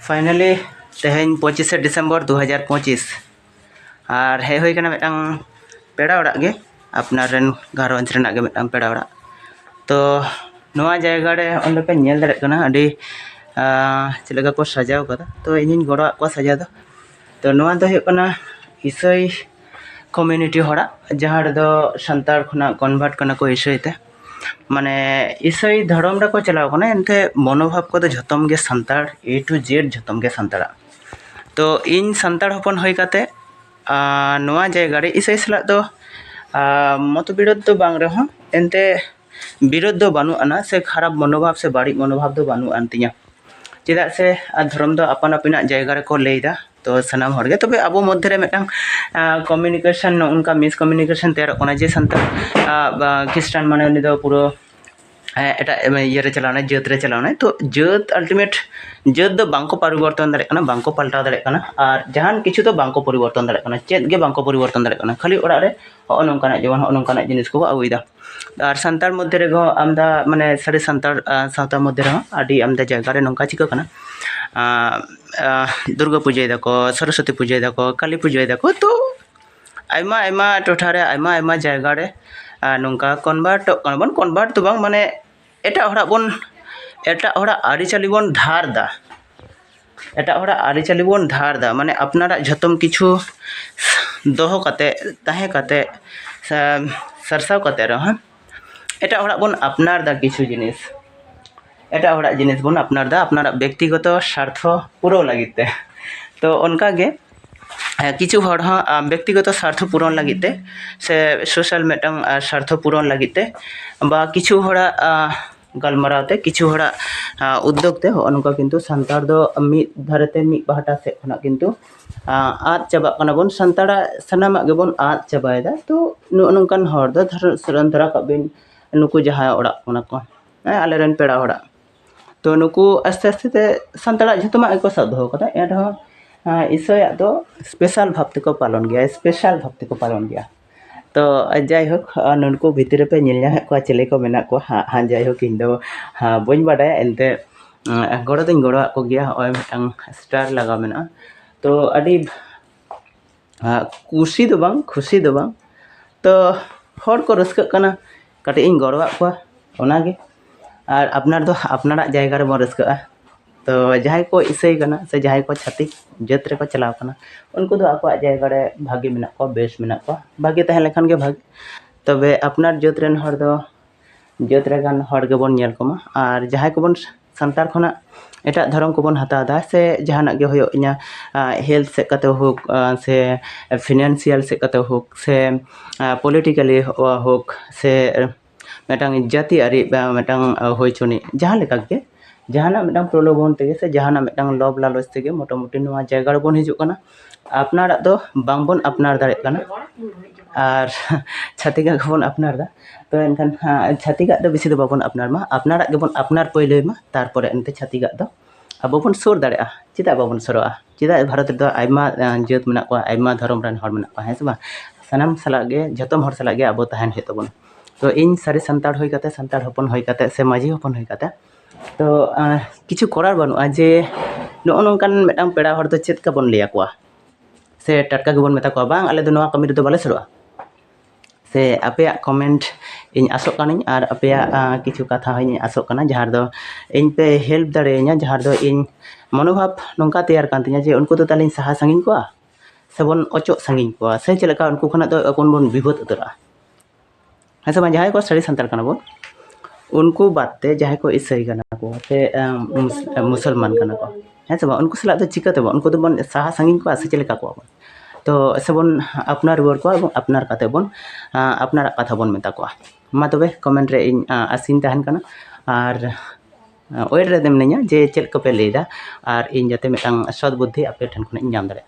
finally ᱛᱮᱦᱮᱧ ᱯᱚᱸᱪᱤᱥᱮ ᱰᱤᱥᱮᱢᱵᱚᱨ ᱫᱩ ᱦᱟᱡᱟᱨ ᱯᱚᱸᱪᱤᱥ ᱟᱨ ᱦᱮᱡ ᱦᱩᱭ ᱠᱟᱱᱟ ᱢᱤᱫᱴᱟᱝ ᱯᱮᱲᱟ ᱚᱲᱟᱜ ᱜᱮ ᱟᱯᱱᱟᱨ ᱨᱮᱱ ᱜᱷᱟᱨᱚᱸᱡᱽ ᱨᱮᱱᱟᱜ ᱜᱮ ᱢᱤᱫᱴᱟᱝ ᱯᱮᱲᱟ ᱚᱲᱟᱜ ᱛᱚ ᱱᱚᱣᱟ ᱡᱟᱭᱜᱟ ᱨᱮ ᱚᱸᱰᱮ ᱯᱮ ᱧᱮᱞ ᱫᱟᱲᱮᱭᱟᱜ ᱠᱟᱱᱟ ᱟᱹᱰᱤ ᱪᱮᱫ ᱞᱮᱠᱟ ᱠᱚ ᱥᱟᱡᱟᱣ ᱠᱟᱫᱟ ᱛᱚ ᱤᱧᱤᱧ ᱜᱚᱲᱚ ᱟᱫ ᱠᱚᱣᱟ ᱥᱟᱡᱟᱣ ᱫᱚ ᱛᱚ ᱱᱚᱣᱟ ᱫᱚ ᱦᱩᱭᱩᱜ ᱠᱟᱱᱟ ᱤᱥᱟᱹᱭ ᱠᱚᱢᱤᱭᱩᱱᱤᱴᱤ ᱦᱚᱲᱟᱜ ᱡᱟᱦᱟᱸ ᱨᱮᱫᱚ ᱥᱟᱱᱛᱟᱲ ᱠᱷᱚᱱᱟᱜ ᱠᱚᱱᱵᱷᱟᱨᱴ ᱠᱟᱱᱟ ᱠᱚ ᱤᱥᱟᱹᱭ ᱛᱮ ᱢᱟᱱᱮ ᱤᱥᱟᱹᱭ ᱫᱷᱚᱨᱚᱢ ᱨᱮᱠᱚ ᱪᱟᱞᱟᱣ ᱠᱟᱱᱟ ᱮᱱᱛᱮ ᱢᱚᱱᱳᱵᱷᱟᱵᱽ ᱠᱚᱫᱚ ᱡᱷᱚᱛᱚᱢ ᱜᱮ ᱥᱟᱱᱛᱟᱲ ᱮ ᱴᱩ ᱡᱮᱰ ᱡᱷᱚᱛᱚᱢ ᱜᱮ ᱥᱟᱱᱛᱟᱲᱟᱜ ᱛᱚ ᱤᱧ ᱥᱟᱱᱛᱟᱲ ᱦᱚᱯᱚᱱ ᱦᱩᱭ ᱠᱟᱛᱮ ᱱᱚᱣᱟ ᱡᱟᱭᱜᱟ ᱨᱮ ᱤᱥᱟᱹᱭ ᱥᱟᱞᱟᱜ ᱫᱚ ᱢᱚᱛ ᱵᱤᱨᱳᱫᱷ ᱫᱚ ᱵᱟᱝ ᱨᱮᱦᱚᱸ ᱮᱱᱛᱮ ᱵᱤᱨᱳᱫᱷ ᱫᱚ ᱵᱟᱹᱱᱩᱜ ᱟᱱᱟ ᱥᱮ ᱠᱷᱟᱨᱟᱯ ᱢᱚᱱᱳᱵᱷᱟᱵᱽ ᱥᱮ ᱵᱟᱹᱲᱤᱡ ᱢᱚᱱᱳᱵᱷᱟᱵᱽ ᱫᱚ ᱵᱟᱹᱱᱩᱜ ᱟᱱ ᱛᱤᱧᱟᱹ ᱪᱮᱫᱟᱜ ᱥᱮ ᱫᱷᱚᱨᱚᱢ ᱫᱚ ᱟᱯᱟᱱ ᱟᱹᱯᱤᱱᱟᱜ ᱡᱟᱭᱜᱟ ᱨᱮᱠᱚ ᱞᱟᱹᱭᱫᱟ ᱛᱚ ᱥᱟᱱᱟᱢ ᱦᱚᱲ ᱜᱮ ᱛᱚᱵᱮ ᱟᱵᱚ ᱢᱚᱫᱽᱫᱷᱮ ᱨᱮ ᱢᱤᱫᱴᱟᱝ ᱠᱚᱢᱤᱱᱤᱠᱮᱥᱚᱱ ᱱᱚᱜᱼᱚ ᱱᱚᱝᱠᱟ ᱢᱤᱥᱠᱚᱢᱤᱱᱤᱠᱮᱥᱚᱱ ᱛᱮᱭᱟᱨᱚᱜ ᱠᱟᱱᱟ ᱡᱮ ᱥᱟᱱᱛᱟᱲ ᱠᱷᱤᱥᱴᱟᱱ ᱢᱟᱱᱮ ᱩᱱᱤ ᱫᱚ ᱯᱩᱨᱟᱹ ᱮᱴᱟᱜ ᱤᱭᱟᱹ ᱨᱮ ᱪᱟᱞᱟᱣ ᱮᱱᱟᱭ ᱡᱟᱹᱛ ᱨᱮ ᱪᱟᱞᱟᱣ ᱮᱱᱟᱭ ᱛᱚ ᱡᱟᱹᱛ ᱟᱞᱴᱤᱢᱮᱴ ᱡᱟᱹᱛ ᱫᱚ ᱵᱟᱝ ᱠᱚ ᱯᱚᱨᱤᱵᱚᱨᱛᱚᱱ ᱫᱟᱲᱮᱭᱟᱜ ᱠᱟᱱᱟ ᱵᱟᱝ ᱠᱚ ᱯᱟᱞᱴᱟᱣ ᱫᱟᱲᱮᱭᱟᱜ ᱠᱟᱱᱟ ᱟᱨ ᱡᱟᱦᱟᱱ ᱠᱤᱪᱷᱩ ᱫᱚ ᱵᱟᱝ ᱠᱚ ᱯᱚᱨᱤᱵᱚᱨᱛᱚᱱ ᱫᱟᱲᱮᱭᱟᱜ ᱠᱟᱱᱟ ᱪᱮᱫ ᱜᱮ ᱵᱟᱝ ᱠᱚ ᱯᱚᱨᱤᱵᱚᱨᱛᱚᱱ ᱫᱟᱲᱮᱭᱟᱜ ᱠᱟᱱᱟ ᱠᱷᱟᱹᱞᱤ ᱚᱲᱟᱜ ᱨᱮ ᱦᱚᱸᱜᱼᱚ ᱱᱚᱝᱠᱟᱱᱟᱜ ᱡᱮᱢᱚᱱ ᱦᱚᱸᱜᱼᱚ ᱱᱚᱝᱠᱟᱱᱟᱜ ᱡᱤᱱᱤᱥ ᱠᱚ ᱟᱹᱜᱩᱭᱮᱫᱟ ᱟᱨ ᱥᱟᱱᱛᱟᱲ ᱢᱚᱫᱽᱫᱷᱮ ᱨᱮᱫᱚ ᱟᱢᱫᱟ ᱢᱟᱱᱮ ᱥᱟᱹᱨᱤ ᱥᱟᱱᱛᱟᱲ ᱥᱟᱶᱛᱟ ᱢᱚᱫᱽᱫᱷᱮ ᱨᱮᱦᱚᱸ ᱟᱹᱰᱤ ᱟᱢᱫᱟ ᱡᱟᱭᱜᱟ ᱨᱮ ᱱᱚᱝᱠᱟ ᱪᱤᱠᱟᱹᱜ ᱠᱟᱱᱟ ᱫᱩᱨᱜᱟᱹ ᱯᱩᱡᱟᱹᱭ ᱫᱟᱠᱚ ᱥᱚᱨᱚᱥᱚᱛᱤ ᱯᱩᱡᱟᱹᱭ ᱫᱟᱠᱚ ᱠᱟᱹᱞᱤ ᱯᱩᱡᱟᱹᱭ ᱫᱟᱠᱚ ᱛᱚ ᱟᱭᱢᱟ ᱟᱭᱢᱟ ᱴᱚᱴᱷᱟ ᱨᱮ ᱟᱭᱢᱟ ᱟᱭᱢᱟ ᱡᱟᱭᱜᱟ ᱨᱮ ᱱᱚᱝᱠᱟ ᱠᱚᱱᱵᱷᱟᱨᱴᱚᱜ ᱠᱟᱱᱟ ᱵᱚᱱ ᱠᱚᱱᱵᱷᱟᱨᱴ ᱫᱚ ᱵᱟᱝ ᱢᱟᱱᱮ ᱮᱴᱟᱜ ᱦᱚᱲᱟᱜ ᱵᱚᱱ ᱮᱴᱟᱜ ᱦᱚᱲᱟᱜ ᱟᱹᱨᱤᱪᱟᱹᱞᱤ ᱵᱚᱱ ᱫᱷᱟᱨ ᱮᱫᱟ ᱮᱴᱟᱜ ᱦᱚᱲᱟᱜ ᱟᱹᱨᱤᱪᱟᱹᱞᱤ ᱵᱚᱱ ᱫᱷᱟᱨ ᱮᱫᱟ ᱢᱟᱱᱮ ᱟᱯᱱᱟᱨᱟᱜ ᱡᱚᱛᱚᱢ ᱠᱤᱪᱷᱩ ᱫᱚᱦᱚ ᱠᱟᱛᱮ ᱛᱟᱦᱮᱸ ᱠᱟᱛᱮ ᱥᱮ ᱥᱟᱨᱥᱟᱣ ᱠᱟᱛᱮ ᱨᱮᱦᱚᱸ ᱮᱴᱟᱜ ᱦᱚᱲᱟᱜ ᱵᱚᱱ ᱟᱯᱱᱟᱨ ᱮᱫᱟ ᱠᱤᱪᱷᱩ ᱡᱤᱱᱤᱥ ᱮᱴᱟᱜ ᱦᱚᱲᱟᱜ ᱡᱤᱱᱤᱥ ᱵᱚᱱ ᱟᱯᱱᱟᱨ ᱮᱫᱟ ᱟᱯᱱᱟᱨᱟᱜ ᱵᱮᱠᱛᱤᱜᱚᱛᱚ ᱥᱟᱨᱛᱷᱚ ᱯᱩᱨᱟᱹᱣ ᱞᱟᱹᱜᱤᱫ ᱛᱮ ᱛᱚ ᱚᱱᱠᱟᱜᱮ ᱠᱤᱪᱷᱩ ᱦᱚᱲ ᱦᱚᱸ ᱵᱮᱠᱛᱤᱜᱚᱛᱚ ᱥᱟᱨᱛᱷᱚ ᱯᱩᱨᱚᱱ ᱞᱟᱹᱜᱤᱫ ᱛᱮ ᱥᱮ ᱥᱳᱥᱟᱞ ᱢᱤᱫᱴᱟᱝ ᱥᱟᱨᱛᱷᱚ ᱯᱩᱨᱚᱱ ᱞᱟᱹᱜᱤᱫ ᱛᱮ ᱵᱟ ᱠᱤᱪᱷᱩ ᱦᱚᱲᱟᱜ ᱜᱟᱞᱢᱟᱨᱟᱣ ᱛᱮ ᱠᱤᱪᱷᱩ ᱦᱚᱲᱟᱜ ᱩᱫᱽᱫᱳᱜᱽ ᱛᱮ ᱦᱚᱸᱜᱼᱚ ᱱᱚᱝᱠᱟ ᱠᱤᱱᱛᱩ ᱥᱟᱱᱛᱟᱲ ᱫᱚ ᱢᱤᱫ ᱫᱷᱟᱨᱮ ᱛᱮ ᱢᱤᱫ ᱯᱟᱦᱴᱟ ᱥᱮᱫ ᱠᱷᱚᱱᱟᱜ ᱠᱤᱱᱛᱩ ᱟᱫ ᱪᱟᱵᱟᱜ ᱠᱟᱱᱟ ᱵᱚᱱ ᱥᱟᱱᱛᱟᱲᱟᱜ ᱥᱟᱱᱟᱢᱟᱜ ᱜᱮᱵᱚᱱ ᱟᱫ ᱪᱟᱵᱟᱭᱮᱫᱟ ᱛᱚ ᱱᱚᱜᱼᱚ ᱱᱚᱝᱠᱟᱱ ᱦᱚᱲ ᱫᱚ ᱫᱷᱚᱨᱚ ᱫᱷᱚᱨᱚ ᱠᱟᱜ ᱵᱤᱱ ᱱᱩᱠᱩ ᱡᱟᱦᱟᱸᱭ ᱚᱲᱟᱜ ᱠᱟᱱᱟ ᱠᱚ ᱟᱞᱮ ᱨᱮᱱ ᱯᱮᱲᱟ ᱦᱚᱲᱟᱜ ᱛᱚ ᱱᱩᱠᱩ ᱟᱥᱛᱮ ᱟᱥᱛᱮ ᱛᱮ ᱥᱟᱱᱛᱟᱲᱟᱜ ᱡᱚᱛᱚᱱᱟᱜ ᱜᱮᱠᱚ ᱥᱟᱵ ᱫᱚᱦᱚ ᱠᱟᱫᱟ ᱮᱱ ᱨᱮᱦᱚᱸ ᱤᱥᱟᱹᱭᱟᱜ ᱫᱚ ᱥᱯᱮᱥᱟᱞ ᱵᱷᱟᱵᱽ ᱛᱮᱠᱚ ᱯᱟᱞᱚᱱ ᱜᱮᱭᱟ ᱥᱯᱮᱥᱟᱞ ᱵᱷᱟᱵᱽ ᱛᱮᱠᱚ ᱯᱟᱞᱚᱱ ᱜᱮᱭᱟ ᱛᱚ ᱡᱟᱭᱦᱳᱠ ᱱᱩᱠᱩ ᱵᱷᱤᱛᱨᱤ ᱨᱮᱯᱮ ᱧᱮᱞ ᱧᱟᱢᱮᱫ ᱠᱚᱣᱟ ᱪᱤᱞᱤ ᱠᱚ ᱢᱮᱱᱟᱜ ᱠᱚᱣᱟ ᱦᱟᱸᱜ ᱦᱟᱸᱜ ᱡᱟᱭᱦᱳᱠ ᱤᱧ ᱫᱚ ᱵᱟᱹᱧ ᱵᱟᱰᱟᱭᱟ ᱮᱱᱛᱮ ᱜᱚᱲᱚ ᱫᱚᱧ ᱜᱚᱲᱚᱣᱟᱜ ᱠᱚᱜᱮᱭᱟ ᱦᱚᱸᱜᱼᱚᱭ ᱢᱤᱫᱴᱟᱝ ᱥᱴᱟᱨ ᱞᱟᱜᱟᱣ ᱢᱮᱱᱟᱜᱼᱟ ᱛᱚ ᱟᱹᱰᱤ ᱠᱩᱥᱤ ᱫᱚ ᱵᱟᱝ ᱠᱷᱩᱥᱤ ᱫᱚ ᱵᱟᱝ ᱛᱚ ᱦᱚᱲ ᱠᱚ ᱨᱟᱹᱥᱠᱟᱹᱜ ᱠᱟᱱᱟ ᱠᱟᱹᱴᱤᱡ ᱤᱧ ᱜᱚᱲᱚᱣᱟᱫ ᱠᱚᱣᱟ ᱚᱱᱟᱜᱮ ᱟᱨ ᱟᱯᱱᱟᱨ ᱫᱚ ᱟᱯᱱᱟᱨᱟᱜ ᱡᱟᱭᱜᱟ ᱨᱮᱵᱚᱱ ᱨᱟᱹᱥᱠᱟᱹᱜᱼᱟ ᱛᱚ ᱡᱟᱦᱟᱸᱭ ᱠᱚ ᱤᱥᱟᱹᱭ ᱠᱟᱱᱟ ᱥᱮ ᱡᱟᱦᱟᱸᱭ ᱠᱚ ᱪᱷᱟᱹᱛᱤᱠ ᱡᱟᱹᱛ ᱨᱮᱠᱚ ᱪᱟᱞᱟᱣ ᱠᱟᱱᱟ ᱩᱱᱠᱩ ᱫᱚ ᱟᱠᱚᱣᱟᱜ ᱡᱟᱭᱜᱟ ᱨᱮ ᱵᱷᱟᱹᱜᱤ ᱢᱮᱱᱟᱜ ᱠᱚᱣᱟ ᱵᱮᱥ ᱢᱮᱱᱟᱜ ᱠᱚᱣᱟ ᱵᱷᱟᱹᱜᱤ ᱛᱟᱦᱮᱸ ᱞᱮᱱᱠᱷᱟᱱ ᱜᱮ ᱵᱷᱟᱹᱜᱤ ᱛᱚᱵᱮ ᱟᱯᱱᱟᱨ ᱡᱟᱹᱛ ᱨᱮᱱ ᱦᱚᱲ ᱫᱚ ᱡᱟᱹᱛ ᱞᱮᱠᱟᱱ ᱦᱚᱲ ᱜᱮᱵᱚᱱ ᱧᱮᱞ ᱠᱚᱢᱟ ᱟᱨ ᱡᱟᱦᱟᱸᱭ ᱠᱚᱵᱚᱱ ᱥᱟᱱᱛᱟᱲ ᱠᱷᱚᱱᱟᱜ ᱮᱴᱟᱜ ᱫᱷᱚᱨᱚᱢ ᱠᱚᱵᱚᱱ ᱦᱟᱛᱟᱣ ᱮᱫᱟ ᱥᱮ ᱡᱟᱦᱟᱱᱟᱜ ᱜᱮ ᱦᱩᱭᱩᱜ ᱤᱧᱟᱹᱜ ᱦᱮᱞᱛᱷ ᱥᱮᱫ ᱠᱟᱛᱮ ᱦᱳᱠ ᱥᱮ ᱯᱷᱤᱱᱟᱱᱥᱤᱭᱟᱞ ᱥᱮᱫ ᱠᱟᱛᱮ ᱦᱳᱠ ᱥᱮ ᱯᱚᱞᱤᱴᱤᱠᱮᱞᱤ ᱦᱳᱠ ᱥᱮ ᱢᱤᱫᱴᱟᱝ ᱡᱟᱹᱛᱤᱭᱟᱹᱨᱤ ᱢᱤᱫᱴᱟᱝ ᱦᱩᱭ ᱦᱚᱪᱚᱱᱤᱡ ᱡᱟᱦᱟᱸ ᱞᱮᱠᱟ ᱜᱮ ᱡᱟᱦᱟᱱᱟᱜ ᱢᱤᱫᱴᱟᱝ ᱯᱨᱚᱞᱳᱵᱷᱚᱱ ᱛᱮᱜᱮ ᱥᱮ ᱡᱟᱦᱟᱱᱟᱜ ᱢᱤᱫᱴᱟᱝ ᱞᱚᱵᱷ ᱞᱟᱞᱚᱪ ᱛᱮᱜᱮ ᱢᱳᱴᱟᱢᱩᱴᱤ ᱱᱚᱣᱟ ᱡᱟᱭᱜᱟ ᱨᱮᱵᱚᱱ ᱦᱤᱡᱩᱜ ᱠᱟᱱᱟ ᱟᱯᱱᱟᱨᱟᱜ ᱫᱚ ᱵᱟᱝ ᱵᱚᱱ ᱟᱯᱱᱟᱨ ᱫᱟᱲᱮᱭᱟᱜ ᱠᱟᱱᱟ ᱟᱨ ᱪᱷᱟᱹᱛᱤᱠᱟᱜ ᱜᱮᱵᱚᱱ ᱟᱯᱱᱟᱨ ᱮᱫᱟ ᱛᱚ ᱮᱱᱠᱷᱟᱱ ᱪᱷᱟᱹᱛᱤᱠᱟᱜ ᱫᱚ ᱵᱮᱥᱤ ᱫᱚ ᱵᱟᱵᱚᱱ ᱟᱯᱱᱟᱨ ᱢᱟ ᱟᱯᱱᱟᱨᱟᱜ ᱜᱮᱵᱚᱱ ᱟᱯᱱᱟᱨ ᱯᱳᱭᱞᱳᱭ ᱢᱟ ᱛᱟᱨᱯᱚᱨᱮ ᱮᱱᱛᱮ ᱪᱷᱟᱹᱛᱤᱠᱟᱜ ᱫᱚ ᱟᱵᱚ ᱵᱚᱱ ᱥᱩᱨ ᱫᱟᱲᱮᱭᱟᱜᱼᱟ ᱪᱮᱫᱟᱜ ᱵᱟᱵᱚᱱ ᱥᱩᱨᱩᱜᱼᱟ ᱪᱮᱫᱟᱜ ᱵᱷᱟᱨᱚᱛ ᱨᱮᱫᱚ ᱟᱭᱢᱟ ᱡᱟᱹᱛ ᱢᱮᱱᱟᱜ ᱠᱚᱣᱟ ᱟᱭᱢᱟ ᱫᱷᱚᱨᱚᱢ ᱨᱮᱱ ᱦᱚᱲ ᱢᱮᱱᱟᱜ ᱠᱚᱣᱟ ᱦᱮᱸ ᱥᱮ ᱵᱟᱝ ᱥᱟᱱᱟᱢ ᱥᱟᱞᱟᱜ ᱜᱮ ᱡᱚᱛᱚᱢ ᱦᱚᱲ ᱥᱟᱞᱟᱜ ᱜᱮ ᱟᱵᱚ ᱛᱟᱦᱮᱱ ᱦᱩᱭᱩᱜ ᱛᱟᱵᱚᱱᱟ ᱛᱚ ᱤᱧ ᱥᱟᱹᱨᱤ ᱥᱟᱱᱛᱟᱲ ᱦᱩᱭ ᱠᱟᱛᱮᱫ ᱥᱟᱱᱛᱟᱲ ᱦᱚᱯᱚᱱ ᱦᱩᱭ ᱠᱟᱛᱮᱫ ᱥᱮ ᱢᱟᱹᱡᱷᱤ ᱦᱚᱯᱚᱱ ᱦᱩᱭ ᱠᱟᱛᱮᱫ ᱛᱚ ᱠᱤᱪᱷᱩ ᱠᱚᱨᱟᱣ ᱵᱟᱹᱱᱩᱜᱼᱟ ᱡᱮ ᱱᱚᱜᱼᱚ ᱱᱚᱝᱠᱟᱱ ᱢᱤᱫᱴᱟᱝ ᱯᱮᱲᱟ ᱦᱚᱲ ᱫᱚ ᱪᱮᱫ ᱞᱮᱠᱟ ᱵᱚᱱ ᱞᱟᱹᱭ ᱟᱠᱚᱣᱟ ᱥᱮ ᱴᱟᱴᱠᱟ ᱜᱮᱵᱚᱱ ᱢᱮᱛᱟ ᱠᱚᱣᱟ ᱵᱟᱝ ᱟᱞᱮ ᱫᱚ ᱱᱚᱣᱟ ᱠᱟᱹᱢᱤ ᱨᱮᱫᱚ ᱵᱟᱞᱮ ᱥᱩᱨᱩᱜᱼᱟ ᱥᱮ ᱟᱯᱮᱭᱟᱜ ᱠᱚᱢᱮᱱᱴ ᱤᱧ ᱟᱥᱚᱜ ᱠᱟᱹᱱᱟᱹᱧ ᱟᱨ ᱟᱯᱮᱭᱟᱜ ᱠᱤᱪᱷᱩ ᱠᱟᱛᱷᱟ ᱦᱚᱸᱧ ᱟᱥᱚᱜ ᱠᱟᱱᱟ ᱡᱟᱦᱟᱸ ᱨᱮᱫᱚ ᱤᱧ ᱯᱮ ᱦᱮᱞᱯ ᱫᱟᱲᱮᱭᱟᱹᱧᱟ ᱡᱟᱦᱟᱸ ᱨᱮᱫᱚ ᱤᱧ ᱢᱚᱱᱳᱵᱷᱟᱵᱽ ᱱᱚᱝᱠᱟ ᱛᱮᱭᱟᱨ ᱠᱟᱱ ᱛᱤᱧᱟᱹ ᱡᱮ ᱩᱱᱠᱩ ᱫᱚ ᱛᱟᱦᱚᱞᱮᱧ ᱥᱟᱦᱟ ᱥᱟᱺᱜᱤᱧ ᱠᱚᱣᱟ ᱥᱮᱵᱚᱱ ᱚᱪᱚᱜ ᱥᱟᱺᱜᱤᱧ ᱠᱚᱣᱟ ᱥᱮ ᱪᱮᱫ ᱞᱮᱠᱟ ᱩᱱᱠᱩ ᱠᱷᱚᱱᱟᱜ ᱫᱚ ᱮᱠᱷᱚᱱ ᱵᱚᱱ ᱵᱤᱵᱟᱹᱫ ᱩᱛᱟᱹᱨᱚᱜᱼᱟ ᱦᱮᱸ ᱥᱮ ᱵᱟᱝ ᱡᱟᱦᱟᱸᱭ ᱠᱚ ᱥᱟᱹᱨᱤ ᱥᱟᱱᱛᱟᱲ ᱠᱟᱱᱟ ᱵᱚᱱ ᱩᱱᱠᱩ ᱵᱟᱫ ᱛᱮ ᱡᱟᱦᱟᱸᱭ ᱠᱚ ᱤᱥᱟᱹᱭ ᱠᱟᱱᱟ ᱠᱚ ᱥᱮ ᱢᱩᱥᱚᱞᱢᱟᱱ ᱠᱟᱱᱟ ᱠᱚ ᱦᱮᱸ ᱥᱮ ᱵᱟᱝ ᱩᱱᱠᱩ ᱥᱟᱞᱟᱜ ᱫᱚ ᱪᱤᱠᱟᱹ ᱛᱮᱵᱚᱱ ᱩᱱᱠᱩ ᱫᱚᱵᱚᱱ ᱥᱟᱦᱟ ᱥᱟᱺᱜᱤᱧ ᱠᱚᱣᱟ ᱥᱮ ᱪᱮᱫ ᱞᱮᱠᱟ ᱠᱚᱣᱟ ᱵᱚᱱ ᱛᱚ ᱥᱮᱵᱚᱱ ᱟᱯᱱᱟᱨ ᱨᱩᱣᱟᱹᱲ ᱠᱚᱣᱟ ᱮᱵᱚᱝ ᱟᱯᱱᱟᱨ ᱠᱟᱛᱮ ᱵᱚᱱ ᱟᱯᱱᱟᱨᱟᱜ ᱠᱟᱛᱷᱟ ᱵᱚᱱ ᱢᱮᱛᱟ ᱠᱚᱣᱟ ᱢᱟ ᱛᱚᱵᱮ ᱠᱚᱢᱮᱱᱴ ᱨᱮ ᱤᱧ ᱟᱥᱤᱧ ᱛᱟᱦᱮᱱ ᱠᱟᱱᱟ ᱟᱨ ᱳᱭᱮᱴ ᱨᱮ ᱢᱤᱱᱟᱹᱧᱟ ᱡᱮ ᱪᱮᱫ ᱠᱚᱯᱮ ᱞᱟᱹᱭᱫᱟ ᱟᱨ ᱤᱧ ᱡᱟᱛᱮ ᱢᱤᱫᱴᱟᱝ ᱥᱚᱛ ᱵᱩᱫᱽᱫᱷᱤ ᱟᱯᱮ ᱴᱷᱮᱱ ᱠᱷᱚᱱᱤᱧ ᱧᱟᱢ ᱫᱟᱲᱮᱭᱟᱜ